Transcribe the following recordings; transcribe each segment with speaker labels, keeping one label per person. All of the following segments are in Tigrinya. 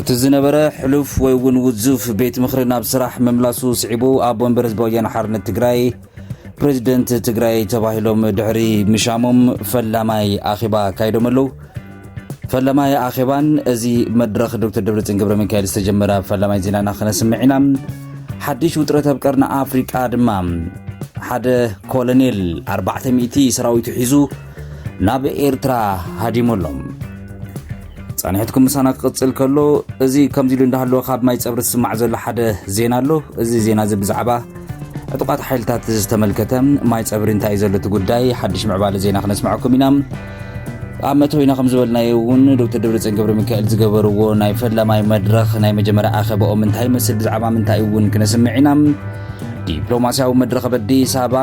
Speaker 1: እቲ ዝነበረ ሕሉፍ ወይ እውን ውዙፍ ቤት ምኽሪ ናብ ስራሕ ምምላሱ ስዒቡ ኣብ ወንበር ህዝቢ ወያነ ሓርነት ትግራይ ፕሬዚደንት ትግራይ ተባሂሎም ድሕሪ ምሻሞም ፈላማይ ኣኼባ ኣካይዶም ኣለዉ ፈላማይ ኣኼባን እዚ መድረኽ ዶክተር ደብረፅን ገብረ ሚካኤል ዝተጀመረ ኣብ ፈላማይ ዜናና ክነስምዕ ኢና ሓድሽ ውጥረት ኣብ ቀርኒ ኣፍሪቃ ድማ ሓደ ኮሎኔል 400 ሰራዊቱ ሒዙ ናብ ኤርትራ ሃዲሙ ኣሎ። ጸኒሕትኩም ምሳና ክቕጽል ከሎ እዚ ከምዚ ኢሉ እንዳሃለወ ካብ ማይ ጸብሪ ዝስማዕ ዘሎ ሓደ ዜና ኣሎ እዚ ዜና እዚ ብዛዕባ ዕጡቓት ሓይልታት ዝተመልከተ ማይ ጸብሪ እንታይ እዩ ዘሎ እቲ ጉዳይ ሓድሽ ምዕባለ ዜና ክነስምዐኩም ኢና ኣብ መእተዊና ከም ዝበልናዮ እውን ዶክተር ደብረፅዮን ገብረ ሚካኤል ዝገበርዎ ናይ ፈላማይ መድረኽ ናይ መጀመርያ ኣኸበኦም እንታይ ይመስል ብዛዕባ ምንታይ እውን ክነስምዕ ኢና ዲፕሎማስያዊ መድረኽ ኣብ ኣዲስ ኣበባ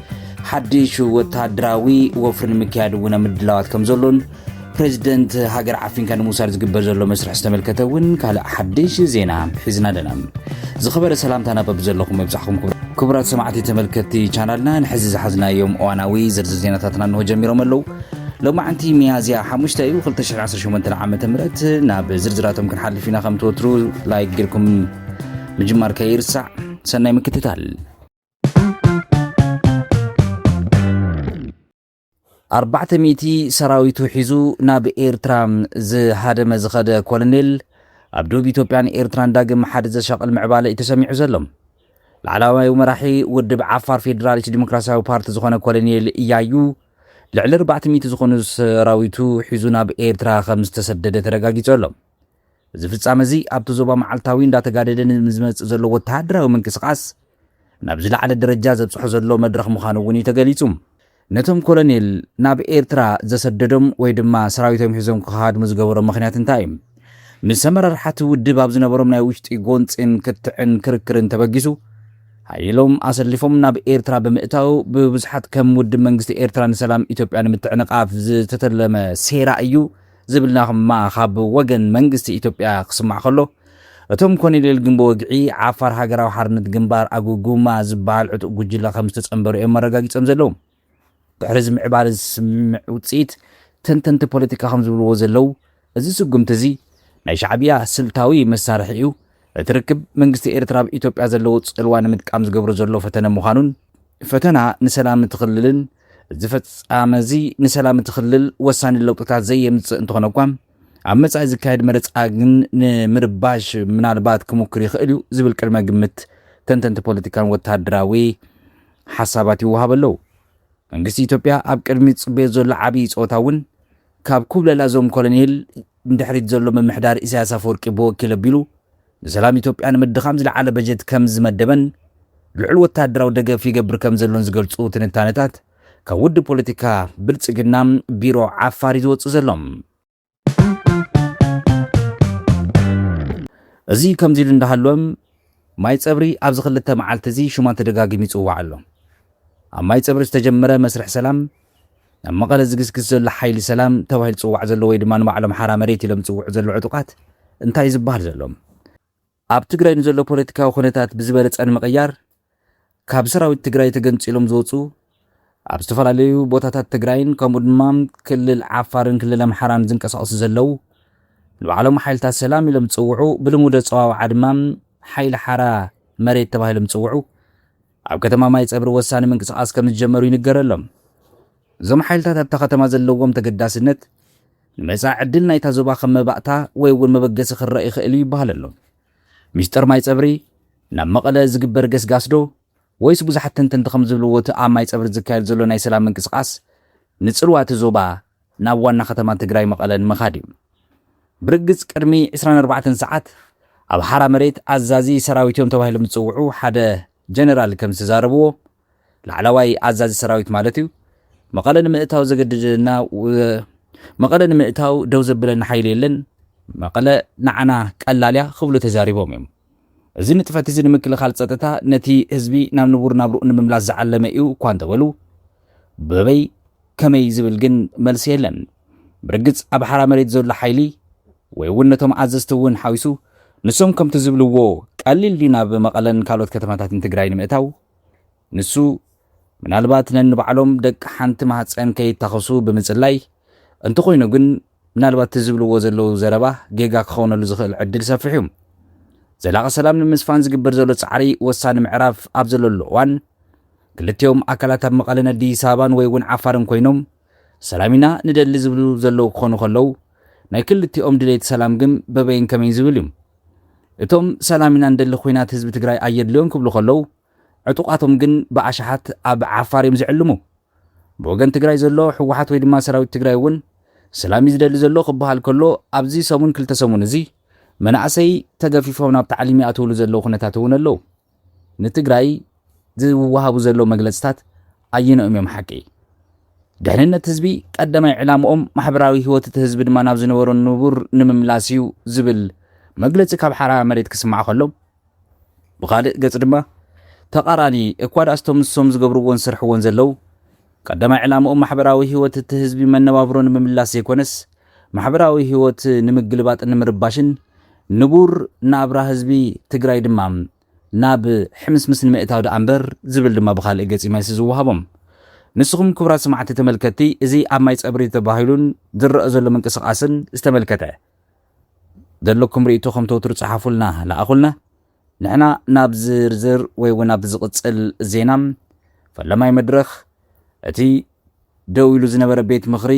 Speaker 1: ሓድሽ ወተሃደራዊ ወፍሪ ንምክያድ እውን ኣብ ምድላዋት ከም ዘሎን ፕሬዚደንት ሃገር ዓፊንካ ንምውሳድ ዝግበር ዘሎ መስርሕ ዝተመልከተ እውን ካልእ ሓድሽ ዜና ሒዝና ኣለና ዝኸበረ ሰላምታ ናበብ ዘለኹም መብዛሕኹም ክቡራት ሰማዕቲ ተመልከቲ ቻናልና ንሕዚ ዝሓዝናዮም እዋናዊ ዝርዝር ዜናታትና እንሆ ጀሚሮም ኣለው ሎማዕንቲ ሚያዝያ ሓሙሽተ እዩ 218 ዓ ም ናብ ዝርዝራቶም ክንሓልፍ ኢና ከም ትወትሩ ላይክ ጌርኩም ምጅማር ከይርሳዕ ሰናይ ምክትታል ኣርባዕተ ሚእቲ ሰራዊቱ ሒዙ ናብ ኤርትራ ዝሃደመ ዝኸደ ኮሎኔል ኣብ ዶብ ኢትዮጵያን ኤርትራን ዳግም ሓደ ዘሻቕል ምዕባለ እዩ ተሰሚዑ ዘሎ። ላዕላዋይ መራሒ ውድብ ዓፋር ፌዴራሊስት ዲሞክራሲያዊ ፓርቲ ዝኾነ ኮሎኔል እያዩ ልዕሊ ኣርባዕተ ሚእቲ ዝኾኑ ሰራዊቱ ሒዙ ናብ ኤርትራ ከም ዝተሰደደ ተረጋጊጹ ኣሎ። እዚ ፍጻመ'ዚ ኣብቲ ዞባ መዓልታዊ እንዳተጋደደ ንዝመጽእ ዘሎ ወተሃደራዊ ምንቅስቓስ ናብ ዝለዓለ ደረጃ ዘብጽሖ ዘሎ መድረኽ ምዃኑ እውን እዩ ተገሊጹ። ነቶም ኮሎኔል ናብ ኤርትራ ዘሰደዶም ወይ ድማ ሰራዊቶም ሒዞም ክኸሃድሙ ዝገበሮም ምኽንያት እንታይ እዩ? ምስ ኣመራርሓ'ቲ ውድብ ኣብ ዝነበሮም ናይ ውሽጢ ጎንጺን ክትዕን ክርክርን ተበጊሱ ሓይሎም ኣሰሊፎም ናብ ኤርትራ ብምእታው ብብዙሓት ከም ውድብ መንግስቲ ኤርትራ ንሰላም ኢትዮጵያ ንምትዕንቓፍ ዝተተለመ ሴራ እዩ ዝብል ናቕማ ካብ ወገን መንግስቲ ኢትዮጵያ ክስማዕ ከሎ፣ እቶም ኮኔሌል ግን ብወግዒ ዓፋር ሃገራዊ ሓርነት ግንባር፣ ኣጉጉማ፣ ዝበሃል ዕጡቕ ጉጅለ ከም ዝተጸንበሩ እዮም ኣረጋጊጾም ዘለዉ። ድሕሪ እዚ ምዕባለ እዚ ስምምዕ ውጽኢት፣ ተንተንቲ ፖለቲካ ከም ዝብልዎ ዘለዉ፣ እዚ ስጉምቲ እዚ፣ ናይ ሻዕብያ ስልታዊ መሳርሒ እዩ፣ እቲ ርክብ መንግስቲ ኤርትራ ኣብ ኢትዮጵያ ዘለዎ ጽልዋ ንምጥቃም ዝገብሮ ዘሎ ፈተነ ምዃኑን፣ ፈተና ንሰላም እቲ ክልልን፣ እዚ ፍጻመ'ዚ ንሰላም እቲ ክልል ወሳኒ ለውጥታት ዘየምጽእ እንተኾነ'ኳ፣ ኣብ መጻኢ ዝካየድ መረጻ ግን ንምርባሽ ምናልባት ክሙክር ይኽእል'ዩ ዝብል ቅድመ ግምት ተንተንቲ ፖለቲካን ወተሃደራዊ ሓሳባት ይወሃበ ኣለው። መንግስቲ ኢትዮጵያ ኣብ ቅድሚት ዝጽበዮ ዘሎ ዓቢ ጸወታ'ውን፣ ካብ ኩብለላ እዞም ኮሎኔል ንድሕሪት ዘሎ ምምሕዳር ኢሳያስ ኣፈወርቂ ብወኪል ኣቢሉ ንሰላም ኢትዮጵያ ንምድኻም ዝለዓለ በጀት ከም ዝመደበን ልዑል ወተሃደራዊ ደገፍ ይገብር ከም ዘሎን ዝገልጹ ትንታነታት ካብ ውድብ ፖለቲካ ብልጽግና ቢሮ ዓፋር እዩ ዝወጽእ ዘሎ። እዚ ከምዚ ኢሉ እንዳሃለወ ማይ ጸብሪ ኣብዚ ክልተ መዓልቲ እዚ ሽማ ተደጋጊሙ ይጽዋዕ ኣሎ። ኣብ ማይ ጸብሪ ዝተጀመረ መስርሕ ሰላም ናብ መቐለ ዝግስግስ ዘሎ ሓይሊ ሰላም ተባሂሉ ዝፅዋዕ ዘሎ ወይ ድማ ንባዕሎም ሓራ መሬት ኢሎም ዝፅውዑ ዘለዉ ዕጡቓት እንታይ እዩ ዝበሃል ዘሎ? ኣብ ትግራይ ንዘሎ ፖለቲካዊ ኩነታት ብዝበለፀ ንምቕያር ካብ ሰራዊት ትግራይ ተገንፂሎም ዝወፁ ኣብ ዝተፈላለዩ ቦታታት ትግራይን ከምኡ ድማ ክልል ዓፋርን ክልል ኣምሓራን ዝንቀሳቐሱ ዘለዉ ንባዕሎም ሓይልታት ሰላም ኢሎም ዝፅውዑ ብልሙድ ኣፀዋውዓ ድማ ሓይሊ ሓራ መሬት ተባሂሎም ዝፅውዑ ኣብ ከተማ ማይጸብሪ ወሳኒ ምንቅስቓስ ከምዝጀመሩ ይንገረሎም። እዞም ሓይልታት ኣብታ ከተማ ዘለዎም ተገዳስነት ንመጻኢ ዕድል ናይታ ዞባ ከም መባእታ ወይ እውን መበገሲ ክረኣ ይኽእል እዩ ይበሃለሎም። ሚስጥር ማይጸብሪ ናብ መቐለ ዝግበር ገስጋስ ዶ ወይስ ብዙሓት ተንተንቲ ከምዝብልዎ እቲ ኣብ ማይጸብሪ ዝካየድ ዘሎ ናይ ሰላም ምንቅስቓስ ንጽልዋ እቲ ዞባ ናብ ዋና ከተማ ትግራይ መቐለ ንምኻድ እዩ። ብርግፅ ቅድሚ ዕስራን ኣርባዕተን ሰዓት ኣብ ሓራ መሬት ኣዛዚ ሰራዊት እዮም ተባሂሎም ዝፅውዑ ሓደ ጀነራል ከምዝተዛረብዎ፣ ላዕላዋይ ኣዛዚ ሰራዊት ማለት እዩ፣ መቐለ ንምእታው ዘገድደና ወይ መቐለ ንምእታው ደው ዘብለና ሓይሊ የለን፣ መቐለ ንዓና ቀላል እያ ክብሉ ተዛሪቦም እዮም። እዚ ንጥፈት እዚ ንምክልኻል ፀጥታ ነቲ ህዝቢ ናብ ንቡር ናብርኡ ንምምላስ ዝዓለመ እዩ እኳ እንተበሉ፣ በበይ ከመይ ዝብል ግን መልሲ የለን። ብርግጽ ኣብ ሓራ መሬት ዘሎ ሓይሊ ወይ እውን ነቶም ኣዘዝቲ እውን ሓዊሱ ንሶም ከምቲ ዝብልዎ ቀሊል ድዩ ናብ መቐለን ካልኦት ከተማታትን ትግራይ ንምእታው? ንሱ ምናልባት ነንባዕሎም ደቂ ሓንቲ ማህፀን ከይታኸሱ ብምፅላይ እንተኾይኑ ግን ምናልባት እቲ ዝብልዎ ዘለዉ ዘረባ ጌጋ ክኸውነሉ ዝኽእል ዕድል ሰፊሕ እዩ። ዘላቒ ሰላም ንምስፋን ዝግበር ዘሎ ጻዕሪ ወሳኒ ምዕራፍ ኣብ ዘለሉ እዋን፣ ክልቲኦም ኣካላት ኣብ መቐለን ኣዲስ ኣበባን ወይ እውን ዓፋርን ኮይኖም ሰላም ኢና ንደሊ ዝብሉ ዘለዉ ክኾኑ ከለዉ፣ ናይ ክልቲኦም ድሌት ሰላም ግን በበይን ከመይን ዝብል እዩ። እቶም ሰላም ኢና ንደሊ ኹናት ህዝቢ ትግራይ ኣየድልዮን ክብሉ ከለዉ፣ ዕጡቓቶም ግን ብኣሽሓት ኣብ ዓፋር እዮም ዝዕልሙ። ብወገን ትግራይ ዘሎ ህወሓት ወይ ድማ ሰራዊት ትግራይ እውን ሰላም እዩ ዝደሊ ዘሎ ክበሃል ከሎ ኣብዚ ሰሙን ክልተ ሰሙን እዚ መናእሰይ ተገፊፎም ናብ ታዕሊም ይኣትውሉ ዘለዉ ኩነታት እውን ኣለዉ። ንትግራይ ዝወሃቡ ዘለዉ መግለፅታት ኣየነኦም እዮም ሓቂ? ድሕንነት ህዝቢ ቀዳማይ ዕላምኦም ማሕበራዊ ህይወት እቲ ህዝቢ ድማ ናብ ዝነበሮ ንቡር ንምምላስ እዩ ዝብል መግለፂ ካብ ሓራ መሬት ክስማዕ ከሎ ብኻልእ ገጽ ድማ ተቃራኒ እኳ ድኣስ እቶም ንሶም ዝገብርዎን ዝሰርሕዎን ዘለዉ ቀዳማይ ዕላምኦም ማሕበራዊ ህይወት እቲ ህዝቢ መነባብሮ ንምምላስ ዘይኮነስ ማሕበራዊ ህይወት ንምግልባጥን ንምርባሽን ንቡር ናብራ ህዝቢ ትግራይ ድማ ናብ ሕምስምስ ንምእታው ድኣ እምበር ዝብል ድማ ብኻልእ ገጽ እዩ መልሲ ዝወሃቦም። ንስኹም ክቡራት ሰማዕቲ ተመልከትቲ እዚ ኣብ ማይ ጸብሪ ተባሂሉን ዝረኣ ዘሎ ምንቅስቃስን ዝተመልከተ ዘለኩም ርእይቶ ከም ተወትሩ ጸሓፉልና ለኣኹልና። ንሕና ናብ ዝርዝር ወይ እውን ኣብ ዝቕጽል ዜና ፈላማይ መድረኽ እቲ ደው ኢሉ ዝነበረ ቤት ምኽሪ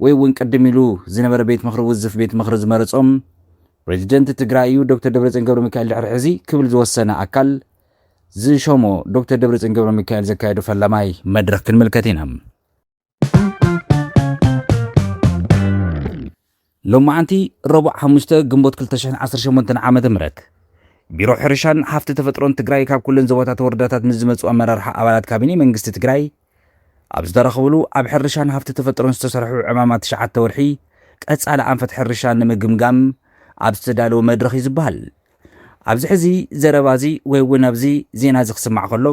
Speaker 1: ወይ እውን ቅድም ኢሉ ዝነበረ ቤት ምኽሪ ውዝፍ ቤት ምኽሪ ዝመረጾም ፕሬዚደንት ትግራይ እዩ ዶክተር ደብረጽዮን ገብረ ሚካኤል ድሕሪ ሕዚ ክብል ዝወሰነ ኣካል ዝሾሞ ዶክተር ደብረጽዮን ገብረ ሚካኤል ዘካየዱ ፈላማይ መድረኽ ክንምልከት ኢና። ሎማዕንቲ ረቡዕ ሓሙሽተ ግንቦት ክልተ ሽሕን ዓሰርተ ሸሞንተን ዓመተ ምህረት ቢሮ ሕርሻን ሃፍቲ ተፈጥሮን ትግራይ ካብ ኩለን ዞባታት ወረዳታት ምስ ዝመፁ ኣመራርሓ ኣባላት ካቢኔ መንግስቲ ትግራይ ኣብ ዝተረኸብሉ ኣብ ሕርሻን ሃፍቲ ተፈጥሮን ዝተሰርሑ ዕማማት ትሽዓተ ወርሒ ቀፃሊ ኣንፈት ሕርሻ ንምግምጋም ኣብ ዝተዳለወ መድረኽ እዩ ዝበሃል ኣብዚ ሕዚ ዘረባ እዚ ወይ እውን ኣብዚ ዜና እዚ ክስማዕ ከሎ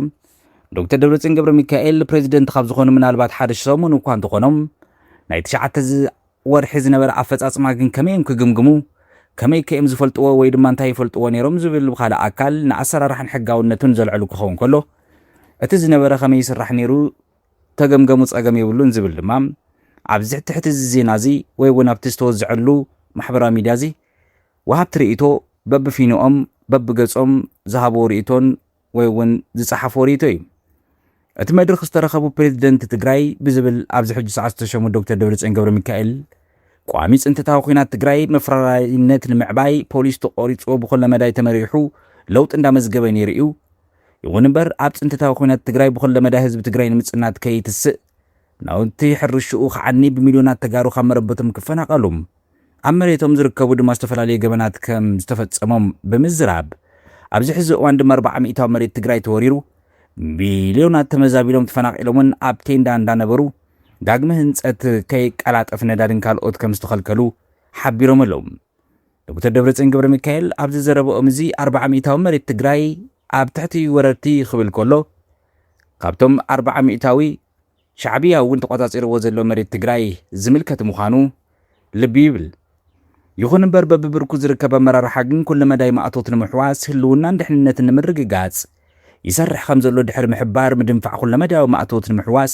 Speaker 1: ዶክተር ደብረፅዮን ገብረ ሚካኤል ፕሬዚደንት ካብ ዝኾኑ ምናልባት ሓደ ሰሙን እኳ እንተኾኖም ናይ ትሽዓተ ወርሒ ዝነበረ ኣፈፃፅማ ግን ከመይ እዮም ክግምግሙ ከመይ ከ እዮም ዝፈልጥዎ ወይ ድማ እንታይ ይፈልጥዎ ነይሮም ዝብል ብካልእ ኣካል ንኣሰራርሓን ሕጋውነቱን ዘልዕሉ ክኸውን ከሎ እቲ ዝነበረ ከመይ ይስራሕ ነይሩ ተገምገሙ ፀገም የብሉን ዝብል ድማ ኣብዚ ትሕቲ እዚ ዜና እዚ ወይ እውን ኣብቲ ዝተወዝዐሉ ማሕበራዊ ሚድያ እዚ ወሃብቲ ርእይቶ በብፊንኦም በብገጾም ዝሃብዎ ርእይቶን ወይ እውን ዝጸሓፍዎ ርእይቶ እዩ። እቲ መድርኽ ዝተረኸቡ ፕሬዚደንት ትግራይ ብዝብል ኣብዚ ሕጂ ሰዓት ዝተሸሙ ዶክተር ደብረጽዮን ገብረሚካኤል ቋሚ ፅንተታዊ ኲናት ትግራይ መፍረራይነት ንምዕባይ ፖሊስ ተቖሪፅዎ ብኹለ መዳይ ተመሪሑ ለውጢ እንዳመዝገበ ነይሩ እዩ ይኹን እምበር ኣብ ፅንተታዊ ኲናት ትግራይ ብኹለ መዳይ ህዝቢ ትግራይ ንምፅናት ከይትስእ ናውቲ ሕርሽኡ ክዓኒ፣ ብሚልዮናት ተጋሩ ካብ መረበቶም ክፈናቐሉ፣ ኣብ መሬቶም ዝርከቡ ድማ ዝተፈላለዩ ገበናት ከም ዝተፈፀሞም ብምዝራብ፣ ኣብዚ ሕዚ እዋን ድማ ኣርብዓ ሚኢታዊ መሬት ትግራይ ተወሪሩ፣ ሚልዮናት ተመዛቢሎም ተፈናቒሎምን ኣብ ቴንዳ እንዳነበሩ ዳግመ ህንፀት ከይቀላጠፍ ነዳድን ካልኦት ከም ዝተኸልከሉ ሓቢሮም ኣለው። ዶክተር ደብረፅዮን ገብረሚካኤል ኣብዚ ዘረበኦም እዚ ኣርብዓ ሚኢታዊ መሬት ትግራይ ኣብ ትሕቲ ወረርቲ ክብል ከሎ፣ ካብቶም ኣርባዓ ሚእታዊ ሻዕብያ እውን ተቖፃፂርዎ ዘሎ መሬት ትግራይ ዝምልከት ምዃኑ ልቢ ይብል። ይኹን እምበር በቢብርኩ ዝርከብ ኣመራርሓ ግን ኩለ መዳይ ማእቶት ንምሕዋስ ህልውናን ድሕንነትን ንምርግጋፅ ይሰርሕ ከምዘሎ ድሕሪ ምሕባር ምድንፋዕ ኩለመዳያዊ ማእቶት ንምሕዋስ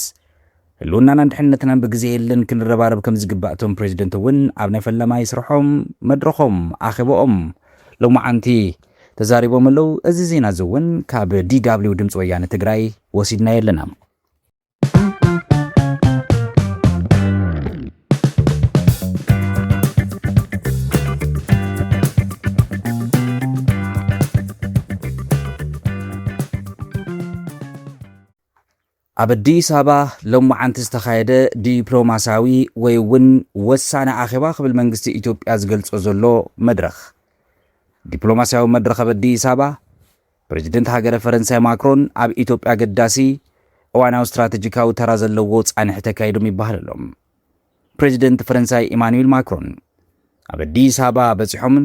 Speaker 1: ህልውናናን ድሕንነትናን ብግዜ የለን ክንረባረብ ከምዝግባእ እቶም ፕሬዚደንት እውን ኣብ ናይ ፈላማይ ስርሖም መድረኾም፣ ኣኼበኦም፣ ሎማዓንቲ ተዛሪቦም ኣለው። እዚ ዜና እዚ እውን ካብ DW ድምፂ ወያነ ትግራይ ወሲድናዮ ኣለና። ኣብ ኣዲስ ኣበባ ሎማዓንቲ ዝተኻየደ ዲፕሎማሲያዊ ወይ እውን ወሳኒ ኣኼባ ክብል መንግስቲ ኢትዮጵያ ዝገልፆ ዘሎ መድረኽ ዲፕሎማሲያዊ መድረኽ ኣብ ኣዲስ ኣበባ ፕረዚደንት ሃገረ ፈረንሳይ ማክሮን ኣብ ኢትዮጵያ ኣገዳሲ እዋናዊ ስትራቴጂካዊ ተራ ዘለዎ ፃንሒት ኣካይዶም ይበሃል ኣሎ። ፕረዚደንት ፈረንሳይ ኢማኑኤል ማክሮን ኣብ ኣዲስ ኣበባ በፂሖምን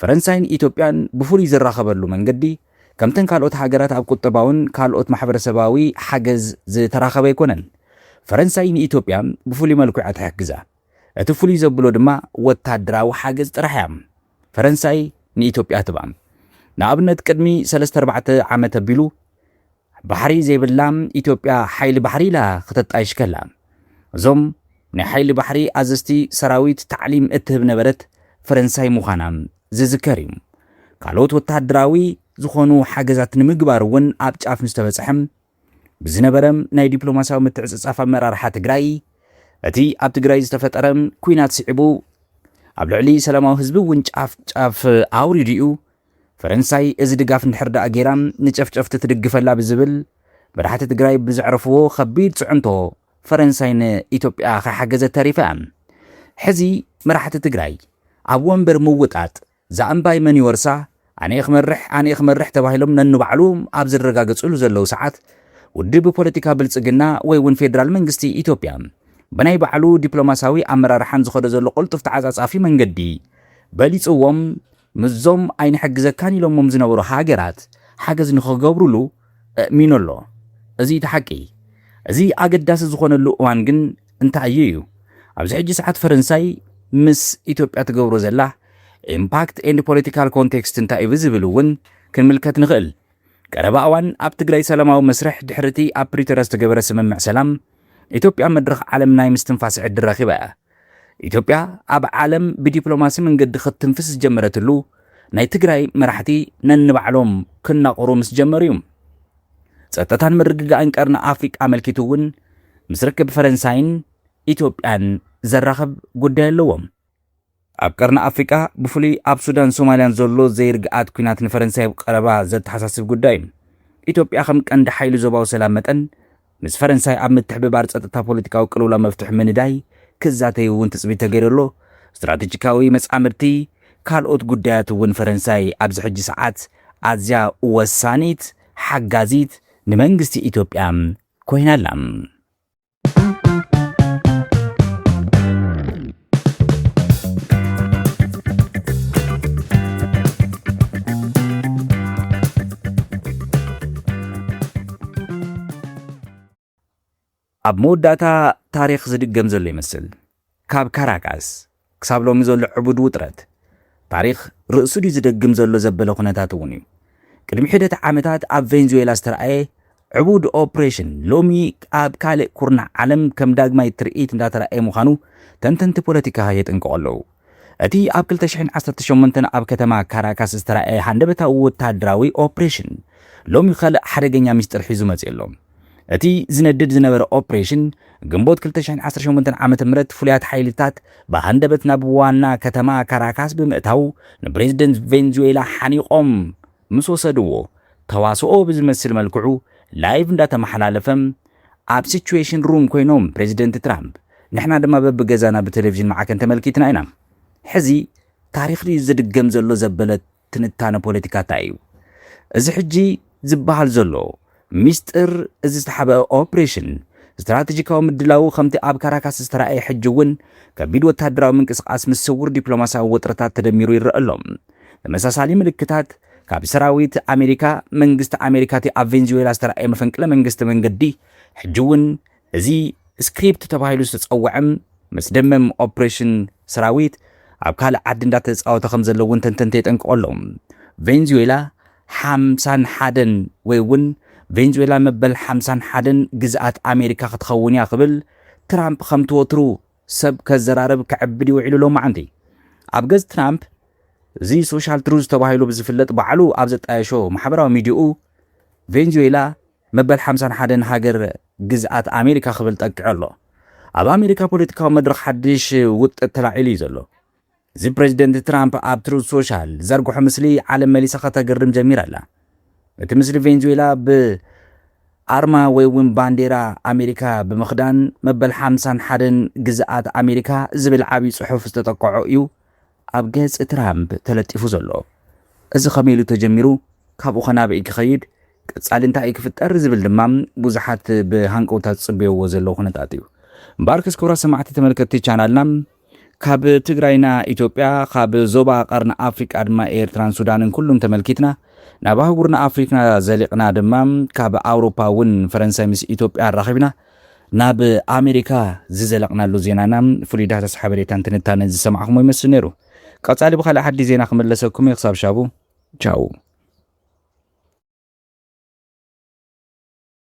Speaker 1: ፈረንሳይን ኢትዮጵያን ብፍሉይ ዝራኸበሉ መንገዲ ከምተን ካልኦት ሃገራት ኣብ ቁጠባውን ካልኦት ማሕበረሰባዊ ሓገዝ ዝተራኸበ ኣይኮነን። ፈረንሳይ ንኢትዮጵያ ብፍሉይ መልክዑ እያ ትሕግዛ። እቲ ፍሉይ ዘብሎ ድማ ወታደራዊ ሓገዝ ጥራሕ እያ ፈረንሳይ ንኢትዮጵያ ትህባ። ንኣብነት ቅድሚ ሰለስተ ኣርባዕተ ዓመት ኣቢሉ፣ ባሕሪ ዘይብላ ኢትዮጵያ ሓይሊ ባሕሪ ኢላ ከተጣይሽ ከላ እዞም ናይ ሓይሊ ባሕሪ ኣዘዝቲ ሰራዊት ታዕሊም እትህብ ነበረት ፈረንሳይ ምዃና ዝዝከር እዩ። ካልኦት ወተሃደራዊ ዝኾኑ ሓገዛት ንምግባር እውን ኣብ ጫፍ ምስ ተበፅሐ ብዝነበረ ናይ ዲፕሎማሲያዊ ምትዕፅፃፍ ኣመራርሓ ትግራይ እቲ ኣብ ትግራይ ዝተፈጠረ ኩናት ስዒቡ ኣብ ልዕሊ ሰላማዊ ህዝቢ እውን ጫፍ ጫፍ ኣውሪዱ እዩ ፈረንሳይ እዚ ድጋፍ እንድሕር ድኣ ገይራ ንጨፍጨፍቲ ትድግፈላ ብዝብል መራሕቲ ትግራይ ብዘዕረፍዎ ከቢድ ፅዕንቶ ፈረንሳይ ንኢትዮጵያ ከይሓገዘት ተሪፋ እያ። ሕዚ መራሕቲ ትግራይ ኣብ ወንበር ምውጣጥ እዛ እምባይ መን ይወርሳ፣ ኣነ'የ ክመርሕ ኣነ'የ ክመርሕ ተባሂሎም ነንባዕሎም ኣብ ዝረጋገፅሉ ዘለው ሰዓት ውድብ ፖለቲካ ብልፅግና ወይ እውን ፌዴራል መንግስቲ ኢትዮጵያ ብናይ ባዕሉ ዲፕሎማሲያዊ ኣመራርሓን ዝኸዶ ዘሎ ቅልጡፍ ተዓፃፃፊ መንገዲ በሊፅዎም ምስዞም ኣይንሕግዘካን ኢሎሞም ዝነበሩ ሃገራት ሓገዝ ንኽገብሩሉ እእሚኑ ኣሎ። እዚ'ዩ እቲ ሓቂ። እዚ ኣገዳሲ ዝኾነሉ እዋን ግን እንታይ'ዩ እዩ። ኣብዚ ሕጂ ሰዓት ፈረንሳይ ምስ ኢትዮጵያ ትገብሮ ዘላ ኢምፓክት ኤንድ ፖለቲካል ኮንቴክስት እንታይ'ዩ ብዝብል እውን ክንምልከት ንኽእል። ቀረባ እዋን ኣብ ትግራይ ሰላማዊ መስርሕ ድሕሪ'ቲ ኣብ ፕሪቶርያ ዝተገበረ ስምምዕ ሰላም ኢትዮጵያ መድረኽ ዓለም ናይ ምስትንፋስ ዕድል ረኺባ እያ። ኢትዮጵያ ኣብ ዓለም ብዲፕሎማሲ መንገዲ ክትትንፍስ ዝጀመረትሉ ናይ ትግራይ መራሕቲ ነንባዕሎም ክናቑሩ ምስ ጀመሩ እዩ። ጸጥታን ምርግጋእን ቀርኒ ኣፍሪቃ ኣመልኪቱ እውን ምስ ርክብ ፈረንሳይን ኢትዮጵያን ዘራኽብ ጉዳይ ኣለዎም። ኣብ ቀርኒ ኣፍሪቃ ብፍሉይ ኣብ ሱዳን ሶማልያን ዘሎ ዘይርግኣት ኲናት ንፈረንሳይ ኣብ ቀረባ ዘተሓሳስብ ጉዳይ እዩ። ኢትዮጵያ ከም ቀንዲ ሓይሊ ዞባዊ ሰላም መጠን ምስ ፈረንሳይ ኣብ ምትሕብባር ጸጥታ ፖለቲካዊ ቅልውላው መፍትሒ ምንዳይ ክዛተዩ እውን ትጽቢት ተገይሩ ኣሎ። ስትራተጂካዊ መጻምድቲ ካልኦት ጉዳያት እውን ፈረንሳይ ኣብዚ ሕጂ ሰዓት ኣዝያ ወሳኒት ሓጋዚት ንመንግስቲ ኢትዮጵያ ኮይና ኣላ። ኣብ መወዳእታ ታሪኽ ዝድገም ዘሎ ይመስል። ካብ ካራካስ ክሳብ ሎሚ ዘሎ ዕቡድ ውጥረት፣ ታሪኽ ርእሱ ድዩ ዝደግም ዘሎ ዘበለ ኩነታት እውን እዩ። ቅድሚ ሒደት ዓመታት ኣብ ቬንዙዌላ ዝተርኣየ ዕቡድ ኦፕሬሽን ሎሚ ኣብ ካልእ ኩርናዕ ዓለም ከም ዳግማይ ትርኢት እንዳተራእየ ምዃኑ ተንተንቲ ፖለቲካ የጠንቅቑ ኣለዉ። እቲ ኣብ ክልተ ሽሕን ዓሰርተ ሸሞንተን ኣብ ከተማ ካራካስ ዝተራእየ ሃንደበታዊ ወተሃደራዊ ኦፕሬሽን ሎሚ ካልእ ሓደገኛ ሚስጥር ሒዙ መጺኡ ኣሎ። እቲ ዝነድድ ዝነበረ ኦፕሬሽን ግንቦት ክልተ ሽሕን ዓሰርተ ሸሞንተን ዓመተ ምህረት ፍሉያት ሓይልታት ብሃንደበት ናብ ዋና ከተማ ካራካስ ብምእታው ንፕሬዝደንት ቬንዙዌላ ሓኒቖም ምስ ወሰድዎ ተዋስኦ ብዝመስል መልክዑ ላይቭ እንዳተመሓላለፈ ኣብ ሲቹዌሽን ሩም ኮይኖም ፕረዚደንት ትራምፕ ንሕና ድማ በብገዛና ብተለቪዥን ማዕከን ተመልኪትና ኢና ሕዚ ታሪኽ ድዩ ዝድገም ዘሎ ዘበለ ትንታነ ፖለቲካ ታይ እዩ እዚ ሕጂ ዝብሃል ዘሎ ሚስጥር እዚ ዝተሓብአ ኦፕሬሽን፣ ስትራተጂካዊ ምድላዉ ከምቲ ኣብ ካራካስ ዝተራእየ ሕጂ እውን ከቢድ ወተሃደራዊ ምንቅስቓስ ምስ ስዉር ዲፕሎማስያዊ ወጥርታት ተደሚሩ ይረኣ ኣሎ። ተመሳሳሊ ምልክታት ካብ ሰራዊት ኣሜሪካ፣ መንግስቲ ኣሜሪካ እቲ ኣብ ቬንዙዌላ ዝተራእየ መፈንቅለ መንግስቲ መንገዲ ሕጂ እውን እዚ ስክሪፕት ተባሂሉ ዝተጸውዐ መስደመም ኦፕሬሽን ሰራዊት ኣብ ካልእ ዓዲ እንዳተጻወተ ከምዘሎ እውን ተንተንቲ የጠንቅቑ ኣለዉ። ቬንዙዌላ ሓምሳን ሓደን ወይ እውን ቬንዙዌላ መበል ሓምሳን ሓደን ግዝኣት ኣሜሪካ ክትኸውን እያ ክብል ትራምፕ ከምቲ ወትሩ ሰብ ከዘራርብ ክዕብድ እዩ ውዒሉ ሎማዕንቲ። ኣብ ገጽ ትራምፕ እዚ ሶሻል ትሩዝ ተባሂሉ ብዝፍለጥ ባዕሉ ኣብ ዘጣየሾ ማሕበራዊ ሚድዩኡ ቬንዙዌላ መበል ሓምሳን ሓደን ሃገር ግዝኣት ኣሜሪካ ክብል ጠቂዑ ኣሎ። ኣብ ኣሜሪካ ፖለቲካዊ መድረኽ ሓድሽ ውጥጥ ተላዒሉ እዩ ዘሎ። እዚ ፕረዚደንት ትራምፕ ኣብ ትሩዝ ሶሻል ዝዘርግሖ ምስሊ ዓለም መሊሳ ከተግርም ጀሚራ ኣላ። እቲ ምስሊ ቬንዙዌላ ብ ኣርማ ወይ እውን ባንዴራ ኣሜሪካ ብምኽዳን መበል ሓምሳን ሓደን ግዝኣት ኣሜሪካ ዝብል ዓብዪ ፅሑፍ ዝተጠቀዖ እዩ ኣብ ገፅ ትራምፕ ተለጢፉ ዘሎ። እዚ ከመይ ኢሉ ተጀሚሩ ካብኡ ከ ናበይ ክኸይድ ቀፃሊ እንታይ እዩ ክፍጠር ዝብል ድማ ብዙሓት ብሃንቀውታ ዝፅበይዎ ዘለዉ ኩነታት እዩ። እምበኣርከስ ክቡራት ሰማዕቲ ተመልከትቲ ቻናልና ካብ ትግራይና ኢትዮጵያ ካብ ዞባ ቀርኒ ኣፍሪቃ ድማ ኤርትራን ሱዳንን ኩሉን ተመልኪትና ናብ ኣህጉርና ኣፍሪክና ዘሊቕና ድማ ካብ ኣውሮፓ እውን ፈረንሳይ ምስ ኢትዮጵያ ኣራኺብና ናብ ኣሜሪካ ዝዘለቕናሉ ዜናና ፍሉይ ዳህሳስ ሓበሬታን ትንታነን ዝሰማዕኹሞ ይመስል ነይሩ ቀጻሊ ብካልእ ሓዲ ዜና ክመለሰኩም እየ ክሳብ ሻቡ ቻው